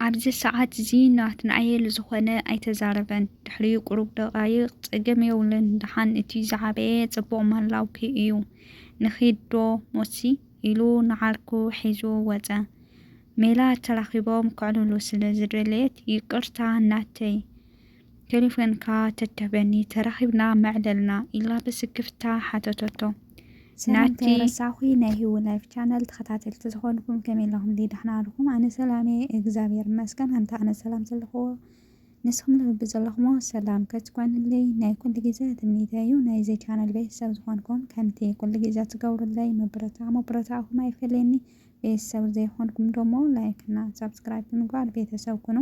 ኣብዚ ሰዓት'ዚ ናትናኤል ዝኾነ ኣይተዛረበን። ድሕሪ ቁሩብ ደቓይቕ፣ ጸገም የብሉን ደሓን እቲ ዝዓበየ ጽቡቕ ምህላውኪ እዩ። ንኺድዶ ሞትሲ? ኢሉ ንዓርኩ ሒዙ ወጸ። ሜላት ተራኺቦም ከዕልሉ ስለ ዝደለየት፣ ይቅርታ ናተይ! ቴሌፎንካ ተትህበኒ ተራኺብና መዕለልና ኢላ ብስክፍታ ሓተተቶ። ሰላም ናቲ ከይረሳኹ ናይ ሂዊ ላይፍ ቻነል ተኸታተልቲ ዝኾንኩም ከመይ ኣለኹምለይ ዳሕና ኣለኹም ኣነ ሰላም እየ እግዚኣብሔር ይመስገን ኣንታ ኣነ ሰላም ዘለኹዎ ንስኹም ልቢ ዘለኹሞ ሰላም ክትኮንለይ ናይ ኩሉ ግዜ ትምኒተይ እዩ ናይዚ ቻነል ቤተሰብ ዝኾንኩም ከምቲ ኩሉ ግዜ ትገብሩለይ ምብርታ ምብርታዕኹም ኣይፈለየኒ ቤተሰብ ዘይኮንኩም ደሞ ላይክ እና ሳብስክራይብ ብምግባር ቤተሰብ ኩኑ።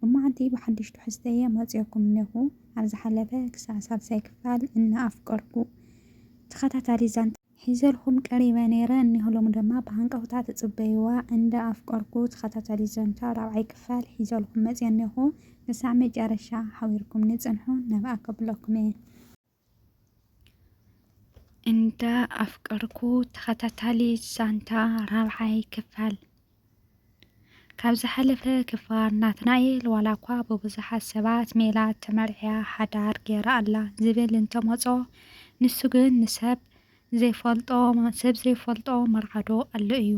ሎማዓንቲ ብሓዱሽ ትሕዝቶ እየ መፂኦኩም እነኹ። ኣብ ዝሓለፈ ክሳዕ ሳልሳይ ክፋል እና ኣፍቀርኩ ተኸታታሊ ዛንታ ሒዘልኹም ቀሪበ ነይረ እነሆ ሎሚ ደማ ብሃንቀውታ ትፅበይዋ እንዳ ኣፍቀርኩ ተኸታታሊ ዛንታ ራብዓይ ክፋል ሒዘልኹም መፂኦ እነኹ። ክሳዕ መጨረሻ ሓቢርኩምኒ ፅንሑ ነብኣ ከብለኩም እየ። እንዳ ኣፍቀርኩ ተኸታታሊ ዛንታ ራብዓይ ክፋል ካብ ዝሓለፈ ክፋል ናትናኤል ዋላ እኳ ብብዙሓት ሰባት ሜላት ተመርዕያ ሓዳር ገይራ ኣላ ዝብል እንተመፆ ንሱ ግን ንሰብ ዘይፈልጦ ሰብ ዘይፈልጦ መርዓዶ ኣሎ እዩ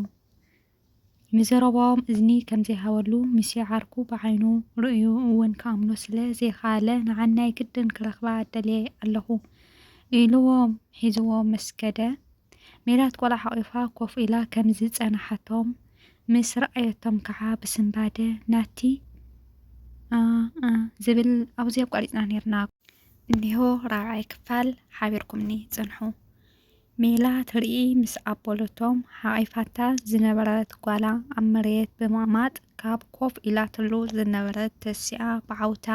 ንዘረባኦም እዝኒ ከም ዘይሃበሉ ምስያ ዓርኩ ብዓይኑ ርእዩ እውን ክኣምኖ ስለ ዘይከኣለ ንዓናይ ግድን ክረኽባ ደልየ ኣለኹ ኢሉዎም ሒዙዎም ምስ ከደ ሜላት ቆልዓ ሓቒፋ ኮፍ ኢላ ከም ዝጸንሓቶም ምስ ረኣየቶም ከኣ ብስንባደ ናቲ ኣእ ዝብል ኣብዚ ኣቋሪጽና ኔርና እኒሆ ራብዓይ ክፋል ሓቢርኩምኒ ጽንሑ። ሜላት ርእይ ምስ ኣበለቶም፣ ሓቚፋታ ዝነበረት ጓላ ኣብ መሬት ብምቕማጥ፣ ካብ ኮፍ ኢላትሉ ዝነበረት ተሲኣ ብዓውታ፣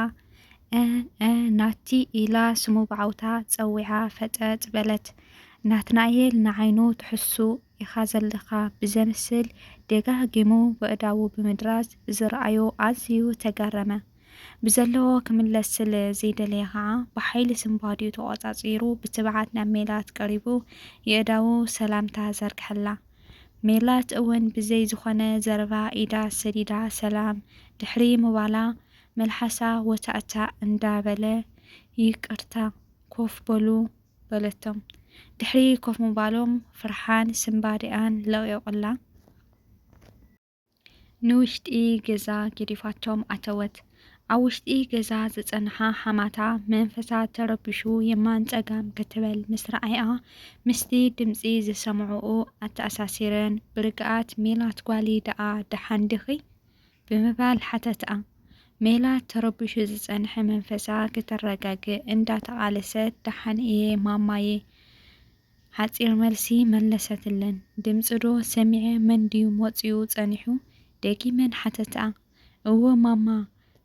እ-እ ናቲ! ኢላ ስሙ ብዓውታ ጸዊዓ ፈጠጥ በለት። ናትናኤል ንዓይኑ ትሕሱ ኢኻ ዘለኻ ብዘምስል ደጋጊሙ በእዳዉ ብምድራዝ ብዝረኣዮ ኣዝዩ ተገረመ። ብዘለዎ ክምለስ ስለ ዘይደለየ ከኣ ብሓይሊ ስንባዲኡ ተቖጻጺሩ ብትብዓት ናብ ሜላት ቀሪቡ የእዳዉ ሰላምታ ዘርግሐላ። ሜላት እውን ብዘይ ዝኾነ ዘረባ ኢዳ ሰዲዳ ሰላም ድሕሪ ምባላ መልሓሳ ወታእታእ እንዳበለ ይቅርታ ኮፍ በሉ በለቶም። ድሕሪ ኮፍ ምባሎም ፍርሓን ስንባዲኣን ለቒቑላ። ንውሽጢ ገዛ ገዲፋቶም ኣተወት። ኣብ ውሽጢ ገዛ ዝጸንሓ ሓማታ መንፈሳ ተረቢሹ የማን ጸጋም ክትበል ምስ ረኣያ ምስቲ ድምጺ ዝሰምዕኡ ኣተኣሳሲረን ብርግኣት ሜላት ጓልይ ደኣ ደሓን ድኺ? ብምባል ሓተትኣ። ሜላት ተረቢሹ ዝጸንሐ መንፈሳ ክተረጋግእ እንዳተቓለሰት ደሓን እየ ማማየ ሓጺር መልሲ መለሰትለን። ድምጺዶ ሰሚዐ መን ድዩ መጺኡ ጸኒሑ? ደጊመን ሓተታ። እወ ማማ፣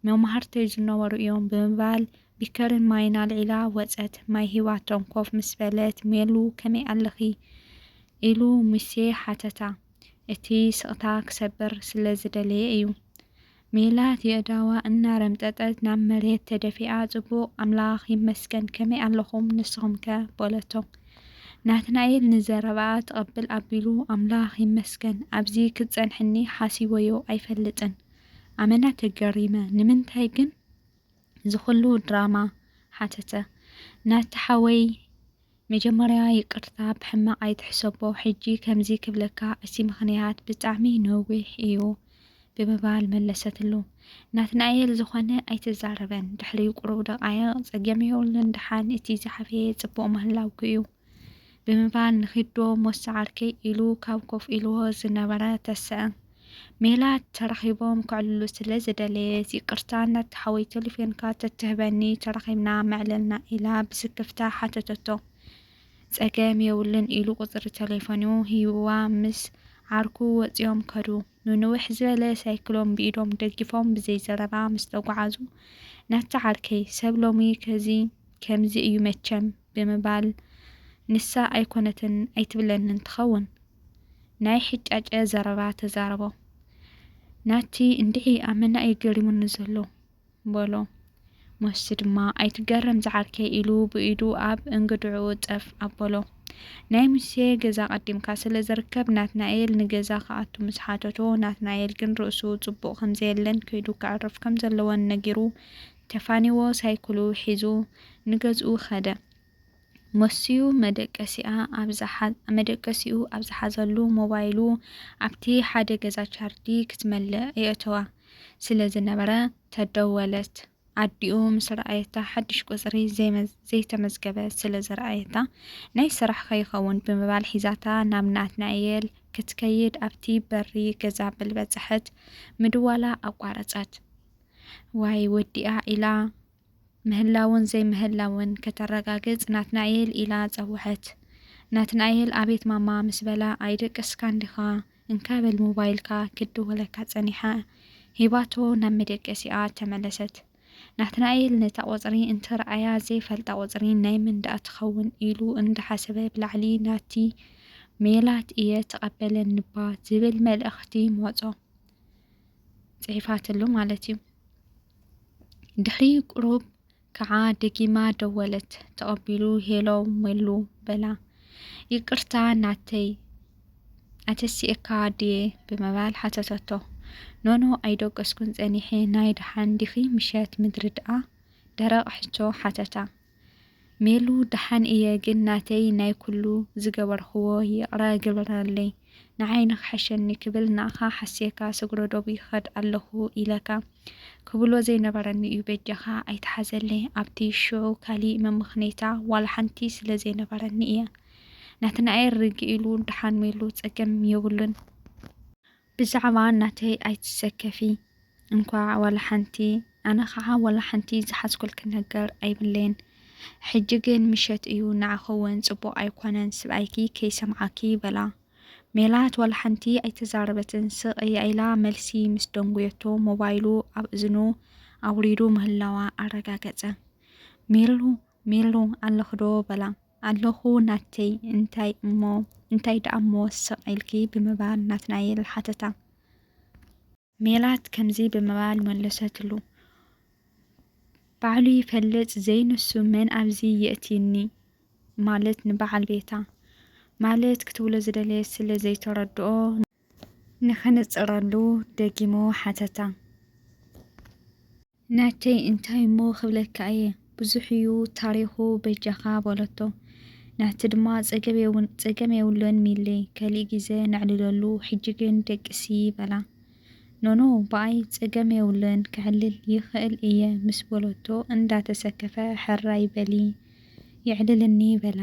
መማህርተይ ዝነበሩ እዮም ብምባል ቢከርን ማይን ኣልዒላ ወጸት። ማይ ሂባቶም ኮፍ ምስ በለት ሜሉ ከመይ ኣለኺ? ኢሉ ሙሴ ሓተታ። እቲ ስቕታ ክሰብር ስለ ዝደለየ እዩ። ሜላት የእዳዋ እናረምጠጠት ናብ መሬት ተደፊኣ ጽቡቕ ኣምላኽ ይመስገን ከመይ ኣለኹም ንስኹምከ? በለቶ። ናትናኤል ንዘረባኣ ተቐብል ኣቢሉ ኣምላኽ ይመስገን ኣብዚ ክትጸንሕኒ ሓሲበዮ ኣይፈልጥን ኣመና ተገሪመ ንምንታይ ግን ዝኹሉ ድራማ? ሓተተ። ናቲ ሓወይ መጀመርያ ይቅርታ ብሕማቅ ኣይትሕሰቦ ሕጂ ከምዚ ክብለካ እቲ ምኽንያት ብጣዕሚ ነዊሕ እዩ ብምባል መለሰትሉ። ናትናኤል ዝኾነ ኣይትዛረበን ድሕሪ ቁሩብ ደቃይቅ ጸገም የብሉን ደሓን እቲ ዝሓፈየ ጽቡቅ ምህላውኪ እዩ ብምባል ንኺድዶ ሞሳ ዓርከይ ኢሉ ካብ ኮፍ ኢልዎ ዝነበረ ተሰእ ሜላት ተራኺቦም ከዕልሉ ስለ ዝደለየት ይቅርታ ናቲ ሓወይ ቴሌፎንካ ተትህበኒ ተራኺብና መዕለልና ኢላ ብስክፍታ ሓተተቶ። ጸገም የብሉን ኢሉ ቁጽሪ ቴሌፎኑ ሂብዋ ምስ ዓርኩ ወጺኦም ከዱ። ንንውሕ ዝበለ ሳይክሎም ብኢዶም ደጊፎም ብዘይ ዘረባ ምስ ተጓዓዙ ናቲ ዓርከይ ሰብ ሎሚ ከዚ ከምዚ እዩ መቸም ብምባል ንሳ ኣይኮነትን ኣይትብለንን ትኸውን ናይ ሕጫጨ ዘረባ ተዛረቦ። ናቲ እንድዒ ኣብ መና እዩ ገሪሙኒ ዘሎ በሎ። ሞስቲ ድማ ኣይትገረም ዝዓርከይ ኢሉ ብኢዱ ኣብ እንግድዕኡ ጸፍ ኣበሎ። ናይ ሙሴ ገዛ ቀዲምካ ስለ ዝርከብ ናትናኤል ንገዛ ክኣቱ ምስ ሓተቶ ናትናኤል ግን ርእሱ ጽቡቕ ከም ዘየለን ከይዱ ከዕርፍ ከም ዘለዎን ነጊሩ ተፋኒዎ ሳይክሉ ሒዙ ንገዝኡ ከደ። ወሲዩ መደቀሲኣ ኣብ ዝሓ መደቀሲኡ ኣብ ዝሓዘሉ ሞባይሉ ኣብቲ ሓደ ገዛ ቻርዲ ክትመልእ የእተዋ ስለ ዝነበረ ተደወለት። ኣዲኡ ምስ ረኣየታ ሓድሽ ቁጽሪ ዘይመ ዘይተመዝገበ ስለ ዝረኣየታ ናይ ስራሕ ከይኸውን ብምባል ሒዛታ ናብ ናትናኤል ክትከይድ ኣብቲ በሪ ገዛ ብልበጽሐት ምድዋላ ኣቋረጸት። ዋይ ወዲኣ ኢላ ምህላውን ዘይምህላውን ከተረጋግጽ ናትናኤል ኢላ ጸወዐት። ናትናኤል ኣቤት ማማ ምስ በላ ኣይደቀስካን ዲኻ እንካ በል ሞባይልካ ክትድወለካ ጸኒሓ ሂባቶ ናብ መደቀሲኣ ተመለሰት። ናትናኤል ነታ ቁጽሪ እንትርኣያ ዘይፈልጣ ቁጽሪ ናይ መን ደኣ ትኸውን ኢሉ እንዳሓሰበ ብላዕሊ ናቲ ሜላት እየ ተቐበለኒባ ዝብል መልእኽቲ ሞጾ። ጽሒፋትሉ ማለት እዩ። ድሕሪ ቁሩብ ከዓ ደጊማ ደወለት። ተቐቢሉ ሄሎ መሉ በላ። ይቅርታ ናተይ ኣተሲኤካ ድየ ብምባል ሓተተቶ። ኖኖ ኣይደቀስኩን ጸኒሐ ናይ ደሓን ዲኺ ምሸት ምድሪ ደኣ ደረቕ ሕቶ ሓተታ። ሜሉ ደሓን እየ ግን ናተይ ናይ ኩሉ ዝገበርክዎ ይቕረ ግበረለይ ንዓይ ንክሐሸኒ ክብል ንኣኻ ሓስየካ ሰግሮ ዶብ ይኸድ ኣለኹ ኢለካ ክብሎ ዘይነበረኒ እዩ በጃኻ ኣይትሓዘለይ ኣብቲ ሽዑ ካሊእ መመኽነይታ ዋላ ሓንቲ ስለ ዘይነበረኒ እየ ናትናኤል ርግእ ኢሉ ደሓን ሜሉ ጸገም የብሉን ብዛዕባ ናተይ ኣይትሰከፊ እንኳዕ ዋላ ሓንቲ ኣነ ከዓ ዋላ ሓንቲ ዝሓዝኩልኪ ነገር ኣይብለይን ሕጂ ግን ምሸት እዩ ንዓኺ ውን ፅቡቅ ኣይኮነን ስብኣይኪ ከይሰምዓኪ በላ ሜላት ዋላ ሓንቲ ኣይተዛረበትን ስቅ እያ ኢላ መልሲ ምስ ደንጉየቶ ሞባይሉ ኣብ እዝኑ ኣውሪዱ ምህላዋ ኣረጋገፀ ሜሉ ሜሉ ኣለኽዶ በላ ኣለኹ ናተይ እንታይ እሞ እንታይ ደኣሞ ስቕ ኢልኪ ብምባል ናትናኤል ሓተታ። ሜላት ከምዚ ብምባል መለሰትሉ፣ ባዕሉ ይፈልጥ ዘይንሱ መን ኣብዚ የእትዩኒ ማለት ንበዓል ቤታ ማለት ክትብሎ ዝደለየት ስለ ዘይተረድኦ፣ ንኽንጽረሉ ደጊሙ ሓተታ። ናተይ እንታይ እሞ ክብለካ እየ፣ ብዙሕ እዩ ታሪኹ በጃኻ በለቶ። ናቲ ድማ ጸገም የብሉን ሚሊ፣ ከሊእ ግዜ ነዕልለሉ፣ ሕጂ ግን ደቅሲ በላ። ኖኖ ብኣይ ጸገም የብሉን፣ ከዕልል ይኽእል እየ ምስ በለቶ እንዳተሰከፈ ሕራይ በሊ የዕልልኒ በላ።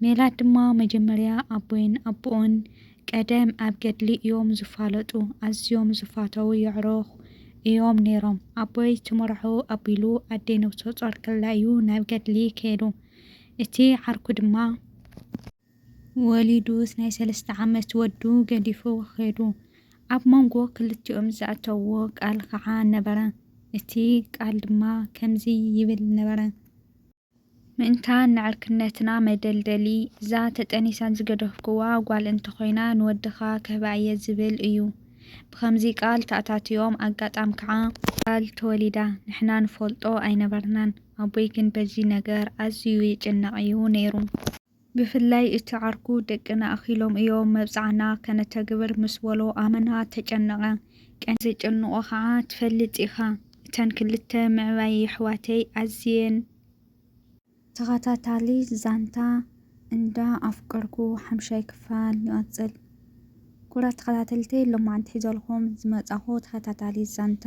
ሜላት ድማ መጀመርያ ኣቦይን ኣቡኡን ቀደም ኣብ ገድሊ እዮም ዝፋለጡ ኣዝዮም ዝፋተዉ የዕሩኽ እዮም ነይሮም። ኣቦይ ትምርዖ ኣቢሉ ኣደይ ነብሰጾር ከላ እዩ ናብ ገድሊ ከይዱ። እቲ ዓርኩ ድማ። ወሊዱስ ናይ ሰለስተ ዓመት ወዱ ገዲፉ ኼዱ። ኣብ መንጎ ክልቲኦም ዘእተውዎ ቃል ኸዓ ነበረ። እቲ ቃል ድማ ከምዚ ይብል ነበረ። ምእንታን ንዕርክነትና መደልደሊ፣ እዛ ተጠኒሳ ዝገደፍኩዋ ጓል እንተኾይና ንወድኻ ክህባ እየ ዝብል እዩ። ብኸምዚ ቃል ተኣታትዮም ኣጋጣም ከዓ። ጓል ተወሊዳ። ንሕና ንፈልጦ ኣይነበርናን። ኣቦይ ግን በዚ ነገር ኣዝዩ ይጭነቕ እዩ ነይሩ። ብፍላይ እቲ ዓርኩ ደቅና ኣኺሎም እዮም መብጽዓና ከነተግብር ምስ በሎ ኣመና ተጨነቐ። ቀንዲ ዘጨንቖ ከኣ ትፈልጥ ኢኻ እተን ክልተ ምዕባይ የሕዋተይ ኣዝየን። ተኸታታሊ ዛንታ እንዳ ኣፍቀርኩ ሓምሻይ ክፋል ይቕጽል። ኩቡራት ተኸታተልተይ ሎማዓንቲ ሒዘልኹም ዝመጻኹ ተኸታታሊት ዛንታ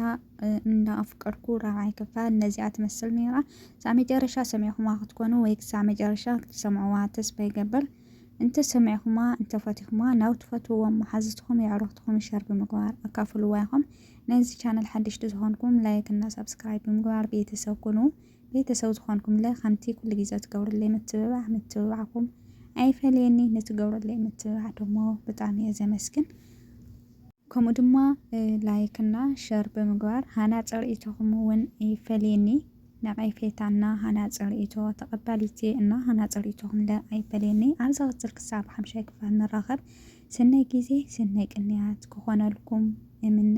እንዳ ኣፍቀርኩ ራብዓይ ክፋል ነዚኣ ትመስል ነይራ። ክሳዕ መጨረሻ ሰሚዕኹማ ክትኮኑ ወይ ክሳዕ መጨረሻ ክትሰምዕዋ ተስፋ ይገብር። እንተ ሰሚዕኹማ እንተ ፈቲኹማ ናብ ትፈትውዎም መሓዝትኹም የዕሩኽትኹም ሸር ብምግባር ኣካፍልዋ ኢኹም። ነዚ ቻነል ሓደሽቲ ዝኾንኩም ላይክ እና ሳብስክራይብ ብምግባር ቤተሰብ ኩኑ። ቤተሰብ ዝኾንኩምለ ከምቲ ኩሉ ግዜ ትገብሩለይ ምትብባዕ ምትብባዕኩም ኣይፈለየኒ ንትገብሩለይ ምትብባዕ ደሞ ብጣዕሚ እየ ዘመስግን ከምኡ ድማ ላይክ እና ሸር ብምግባር ሃናፂ ርእይቶኹም እውን ይፈለየኒ ነቐፌታ እና ሃናፂ ርእይቶ ተቐባሊቲ እና ሃናፂ ርእይቶኹም ለ ኣይፈለየኒ ኣብ ዝቕፅል ክሳብ ሓምሻይ ክፋል ንራኸብ ስናይ ግዜ ስናይ ቅንያት ክኾነልኩም እምነ